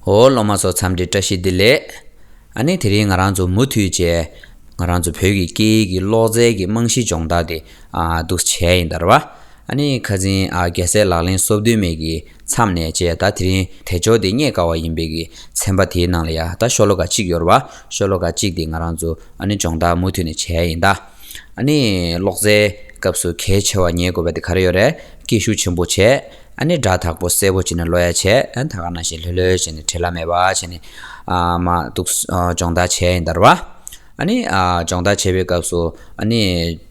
ཧོ། སློབ་མ་ཚོ་འཚམས་འདྲི་བཀྲ་ཤིས་བདེ་ལེགས། ཨ་ནི་དེ་རིང་ང་རང་ཚོ་མུ་མཐུད་བཅས་ང་རང་ཚོ་བོད་ཀྱི་སྐད་ཡིག་གི་ཀློག་རྩལ་གྱི་རྨང་གཞི་སྦྱོང་བརྡར་དེ་འདུག་བྱས་ཡིན་དར་བ། ཨ་ནི་ཁ་འཛིན་རྒྱལ་སྲས་ལག་ལེན་སོབ་དོན་མེད་ཀྱི་མཚམས་ནས་བཅས་ད་དེ་རིང་དལ་འབྱོར་དེ་རྙེད་དཀའ་བ་ཡིན་པའི་གི་ཚན་པ་དེའི་ནང་ལ་ཡ་ད་ཤོ་ལོ་ཀ་གཅིག་ཡོར་བ་ཤོ་ལོ་ཀ་གཅིག་དེ་ང་རང་ཚོ་ཨ་ནི་སྦྱོང་བརྡར་མུ་མཐུད་ནས་བྱས་ཡིན་དར། ཨ་ནི་ཀློག་རྩལ་སྐབས་སུ་གལ་ཆེ་བ་ཉེས་དགོས་པ་དེ་ག་རེ་ཡོད་རེད་སྐད་ཤུགས་ཆེན་པོ་བྱས། ཨ་ནི་སྒྲ་དག་པོ་གསལ་པོ་བྱས་ནས་ལོ་ཡ་བྱས། ད་ག་ན་བྱས་ལྷོད་ལྷོད་བྱས་ནས་བྲེད་ལ་མེད་པ་བྱས་ནས། མ་གཏུགས་སྦྱོང་བརྡར་བྱས་ཡིན་དར་བ། ཨ་ནི་སྦྱོང་བརྡར་བྱེད་པའི་སྐབས་སུ། ཨ་ནི་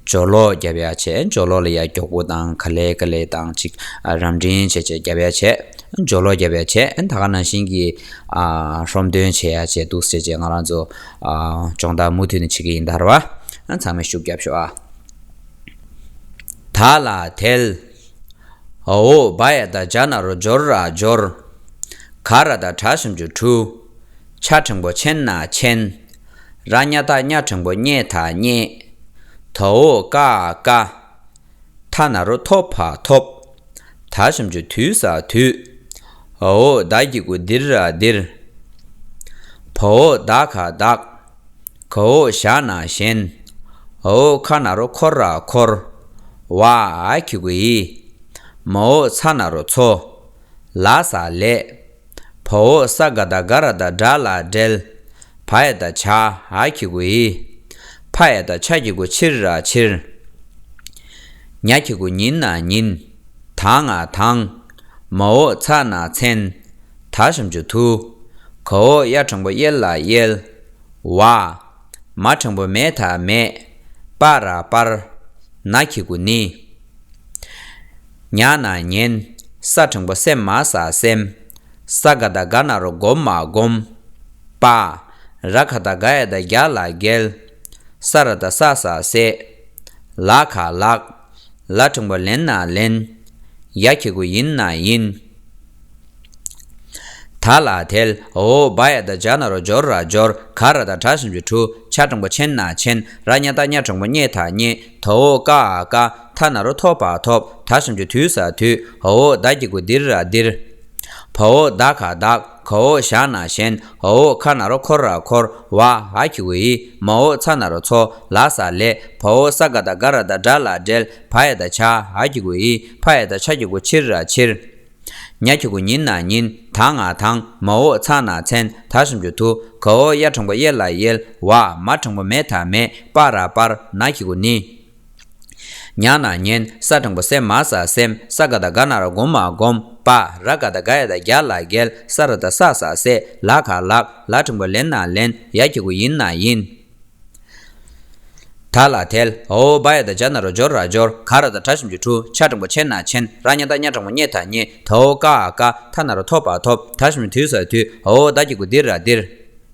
སྦྱོར་ལོག་རྒྱབ་ཡ་བྱས། སྦྱོར་ལོག་ལ་ཡ་མགྱོགས་པོ་དང་ག་ལེ་ག་ལེ་དང་ཅིག། རམ་འདྲིང་བྱས་བྱས་རྒྱབ་ཡ་བྱས། སྦྱོར་ལོག་རྒྱབ་ཡ་བྱས། ད་ག་ན་བྱིན་གྱིས་ཧྲོམ་སྟོན་བྱས་ཡ་བྱས་འདུག་བྱས་བྱས་ང་རང་ཚོ། སྦྱོང་བརྡར་མུ་མཐུད་ནས་བྱེད་ཀྱི་ཡིན་དར་བ། ཚང་མས་ཤུགས་རྒྱབ་ཤོག་ཨ། ད་ལ་དལ། ཨོ་བྷ་ཡ་དང་བྱ་ན་རོ་སྦྱོར་ར་སྦྱོར། གྷ་ར་དང་བྲ་སུམ་ཅུ་དྲུག། ཆ་ཕྲེང་པོ་ཆེན་ན་ཆེན། ར་སྙ་ཐ་སྙ་ཕྲེང་པོ་སྙེ་ཐ་སྙེ། དའོ་ཀ་ཀ། ཐ་ན་རོ་ཐོ་བྷ་ཐོབ། ད་སུམ་ཅུ་དུས་ས་དུས། ཨོ་བདའ་ཀྱི་ཀུ་དིར་ར་དིར། བྷོ་བདའ་ཁ་བདག། ག་འོག་བཞག་ན་བཞེན། ཨོ་ཁ་ན་རོ་འཁོར་ར་འཁོར། བ་གི་གུ་ཡི། མ་འོ་ཚ་ན་རོ་འཚོ། ལ་ས་ལས། བ་འོ་ས་ག་ད་ག་ར་ད་དགྲ་ལ་བསྒྲལ། བ་ཨེ་ད་བྱ་ཨ་གི་གུ་ཡི། ཕ་ཨེ་ད་ཆ་གི་གུ་ཕྱིར་ར་ཕྱིར། ཉ་གི་གུ་ཉིན་ན་ཉིན། དང་ང་དང། མ་འོ་ཚ་ན་མཚན། དག་བྱམས་ཆུ་ཐུ། གོ་འོག་གཡའ་དྲང་པོ་གཡེལ་ལ་གཡེལ། བ། མ་དྲང་པོ་མེད་དག་མེད། པ་ར་སྤར། ན་ཁྱི་གུ་ནི། ཉག་ན་ཉན། ས་དྲང་པོ་སེམས་མ་ས་སེམས། ས་ག་དག་ག་ན་རོ་སྒོམ་མ་སྒོམ། པ། ར་ག་དག་ག་ཡ་དག་རྒྱག་ལ་རྒྱལ། ས་ར་དག་ས་ས་སེ། ལ་ག་ལགས། ལ་དྲངས་པ་ལེན་ན་ལེན། ཡ་ཁྱི་གུ་ཡིན་ན་ཡིན། ད་ལ་དལ། འོ་བ་ཡ་དང་འཇག་ན་རོ་འཇོར་ར་འཇོར། ག་ར་དང་བྲག་ཞིམ་གྱི་གྲུ། ཆ་དྲངས་པ་ཆེན་ན་ཆེན། ར་སྙ་དང་སྙ་དྲངས་པ་སྙེ་དང་སྙེ། དོ་འོ་ཀ་ཨ་ཀ། ཐ་ན་རོ་ཐོ་བ་ཐོབ། ད་ཞིམ་གྱི་དུས་ས་དུས། འོ་བ་ད་ཀྱི་གུ་འདིར་ར་འདིར། བ་འོ་བདག་ག་བདག། ག་འོག་བཞག་ན་གཞན་ཨ་འོག་ཁ་ན་རོ་འཁོར་ར་འཁོར་བ་ཧ་གི་འི་མ་འོག་ཚ་ན་རོ་ཚོ་ལ་ས་ལས་བ་འོག་ས་ག་ད་ག་ར་ད་དགྲ་ལ་བསྒྲལ་བ་ཡ་ད་བྱ་ཧ་གི་འི་བྷ་ཡ་ད་བྱ་གི་འི་ཕྱིར་ར་ཕྱིར། ཉ་གི་འི་ཉིན་ན་ཉིན་ད་ང་དང་མ་འོག་ཚ་ན་ཚན་ད་སུམ་ཅུ་དུ་ག་འོག་གཡའ་དྲང་པོ་གཡས་ལ་གཡེལ་བ་མ་དྲང་པོ་མེ་ད་མེ་སྤར་ར་སྤར་ན་གི་འི་ནི། མྱང་ན་མྱན། ས་སྦྲང་བུ་སེམས་མ་ས་སེམས། ས་ག་དང་ག་ན་ར་སྒོམ་མ་སྒོམ། པ་ར་ག་དང་ག་ཡ་དང་རྒྱ་ལ་རྒལ། ས་ར་དང་ས་ས་སེ། ལ་ག་ལག། ལ་ཕྲེང་བ་ལེན་ན་ལེན། ཡ་ཁྱི་གུ་ཡིན་ན་ཡིན། ཐལ་ལ་ཐལ། ཨོ་བ་ཡ་དང་འཇ་ན་རོ་སྦྱོར་ར་སྦྱོར། ག་ར་དང་གྲ་ཞིམ་གྱི་འཁྲུ། ཆ་སྦྲང་བུ་ཆེན་ན་ཆེན། ར་མྱ་དང་མྱ་སྦྲང་བུ་མྱེ་དང་མྱེ། ཐོ་ཨོ་ཀ་ཨ་ཀ། ཐ་ན་ར་ཐོ་བ་ཐོབ། ད་ཞིམ་དུས་ས་དུས། ཨོ་ད་ཁྱི་གུ་དིར་ར་དིར།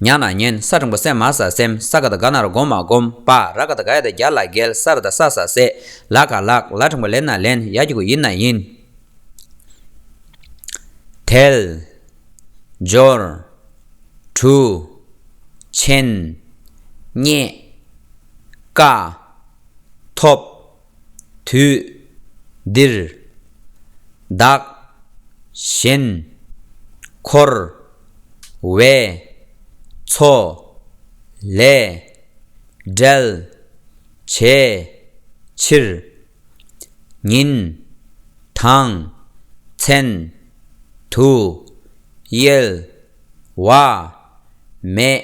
ཉག་ན་ཉན་ས་དྲང་པོ་སེམས་མ་ས་སེམས་ས་ག་དང་ག་ན་ར་སྒོམ་མ་སྒོམ་པ་ར་ག་དང་ག་ཡ་དང་གྱ་ལ་གལ་ས་ར་དང་ས་ས་སེ་ལ་ག་ལགས་ལ་དྲང་པོ་ལེན་ན་ལེན་ཡ་གྱི་གུ་ཡིན་ན་ཡིན། དལ། འབྱོར། གྲུ། ཆེན། རྙེད། དཀའ། ཐོབ། དུས་འདིར། བདག་གཞན། འཁོར། བའི། ཚོ། ལས། འབྲལ། བྱའི། ཕྱིར། ཉིན། དང། མཚན། དུ། གཡེལ། བ། མེད།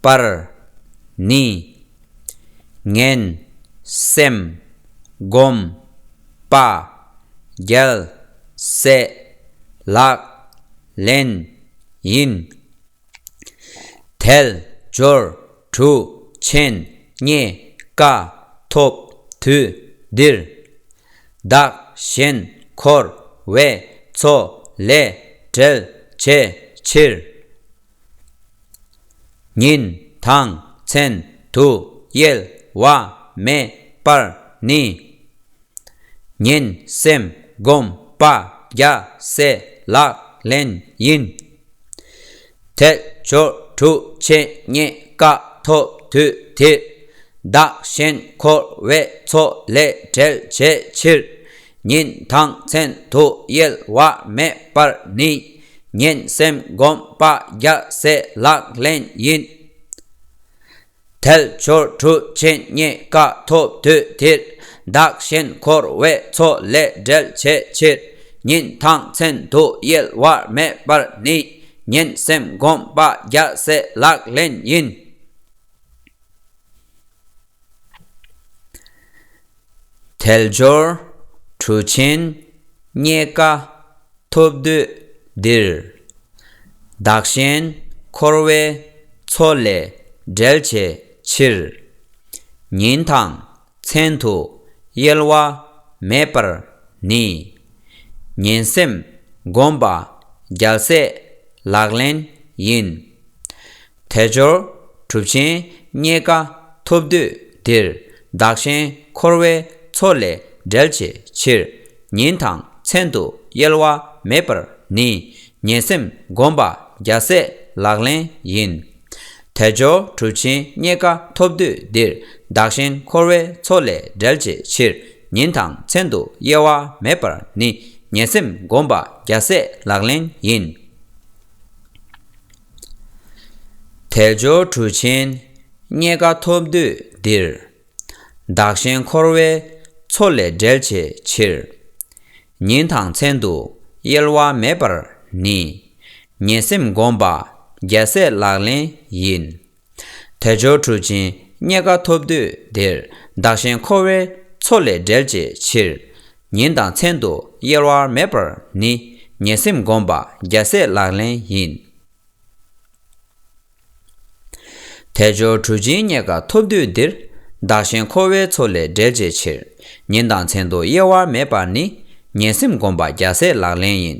པར། ནི། ངན། སེམས། སྒོམ། དཔའ། རྒྱལ། སྲས། ལག། ལེན། ཡིན། དལ། འབྱོར། དྲུག། ཆེན། རྙེད། དཀའ། ཐོབ། དུས། འདིར། བདག། གཞན། འཁོར། བས། ཚོགས། ལས། བྲལ། བྱའི། ཕྱིར། ཉིན་དང་མཚན་དུ་གཡེལ་བ་མེད་པར་ནི། ངན་སེམས་སྒོམ་པ་རྒྱ་སེ་ལག་ལེན་ཡིན། དལ་འབྱོར་དྲུག་ཕྱེད་རྙེད་དཀའ་ཐོབ་དུས་དེར། བདག་གཞན་འཁོར་བའི་ཚོགས་ལས་བསྒྲལ་བྱའི་ཕྱིར། ཉིན་དང་མཚན་དུ་གཡེལ་བ་མེད་པར་ནི། ངན་སེམས་སྒོམ་པ་རྒྱ་སེ་ལག་ལེན་ཡིན། དལ་འབྱོར་གྲུ་ཆེན་རྙེད་དཀའ་ཐོབ་དུས་དེར། བདག་གཞན་འཁོར་བའི་མཚོ་ལས་བསྒྲལ་བྱའི་ཕྱིར། ཉིན་དང་མཚན་དུ་གཡེལ་བར་མེད་པར་ནི། ངན་སེམས་སྒོམ་པ་རྒྱ་སེ་ལག་ལེན་ཡིན། དལ་འབྱོར་གྲུ་ཆེན་རྙེད་དཀའ་ཐོབ་དུས་འདིར། བདག་གཞན་འཁོར་བའི་མཚོ་ལས་བསྒྲལ་བྱའི་ཕྱིར། ཉིན་དང་མཚན་དུ་གཡེལ་བ་མེད་པར་ནི། ངན་སེམས་སྒོམ་པ་རྒྱལ་སྲས་ལག་ལེན་ཡིན། དལ་འབྱོར་གྲུབ་ཆེན་རྙེད་དཀའ་ཐོབ་དུས་འདིར། བདག་གཞན་འཁོར་བའི་མཚོ་ལས་བསྒྲལ་བྱའི་ཕྱིར། ཉིན་དང་མཚན་དུ་གཡེལ་བ་མེད་པར་ནི། ངན་སེམས་སྒོམ་པ་བརྒྱ་སྲས་ལག་ལེན་ཡིན། དལ་འབྱོར་གྲུབ་ཆེན་རྙེད་དཀའ་ཐོབ་དུས་འདིར། བདག་གཞན་འཁོར་བའི་མཚོ་ལས་བསྒྲལ་བྱའི་ཕྱིར། ཉིན་དང་མཚན་དུ་གཡེལ་བ་མེད་པར་ནི། ངན་སེམས་སྒོམ་པ་བརྒྱ་སྲས་ལག་ལེན་ཡིན། དལ་འབྱོར་གྲུ་ཆེན་རྙེད་དཀའ་ཐོབ་དུས་འདིར། བདག་གཞན་འཁོར་བའི་མཚོ་ལས་བསྒྲལ་བྱའི་ཕྱིར། ཉིན་དང་མཚན་དུ་གཡེལ་བ་མེད་པར་ནི། ངན་སེམས་སྒོམ་པ་རྒྱལ་སྲས་ལག་ལེན་ཡིན། དལ་འབྱོར་གྲུ་ཆེན་རྙེད་དཀའ་ཐོབ་དུས་འདིར། བདག་གཞན་འཁོར་བའི་མཚོ་ལས་བསྒྲལ་བྱའི་ཕྱིར། ཉིན་དང་མཚན་དུ་གཡེལ་བ་མེད་པར་ནི། ངན་སེམས་སྒོམ་པ་རྒྱལ་སྲས་ལག་ལེན་ཡིན། དལ་འབྱོར་གྲུ་ཆེན་རྙེད་དཀའ་ཐོབ་དུས་འདིར། བདག་གཞན་འཁོར་བའི་མཚོ་ལས་བསྒྲལ་བྱའི་ཕྱིར། ཉིན་དང་མཚན་དུ་གཡེལ་བ་མེད་པར་ནི། ངན་སེམས་སྒོམ་པ་རྒྱལ་སྲས་ལག་ལེན་ཡིན།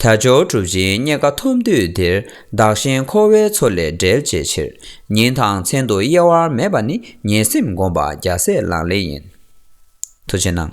དལ་འབྱོར་གྲུབ་ཅིང་རྙེད་དཀའ་ཐོབ་འདོད་འདིར་བདག་གཞན་འཁོར་བའི་མཚོ་ལས་བསྒྲལ་བྱའི་ཕྱིར། ཉིན་དང་མཚན་དུ་གཡེལ་བར་མེད་པ་ནི་ངན་སེམས་སྒོམ་པ་རྒྱ་སྲས་ལག་ལེན་ཡིན། མཐུ་ཆེན་སྣང།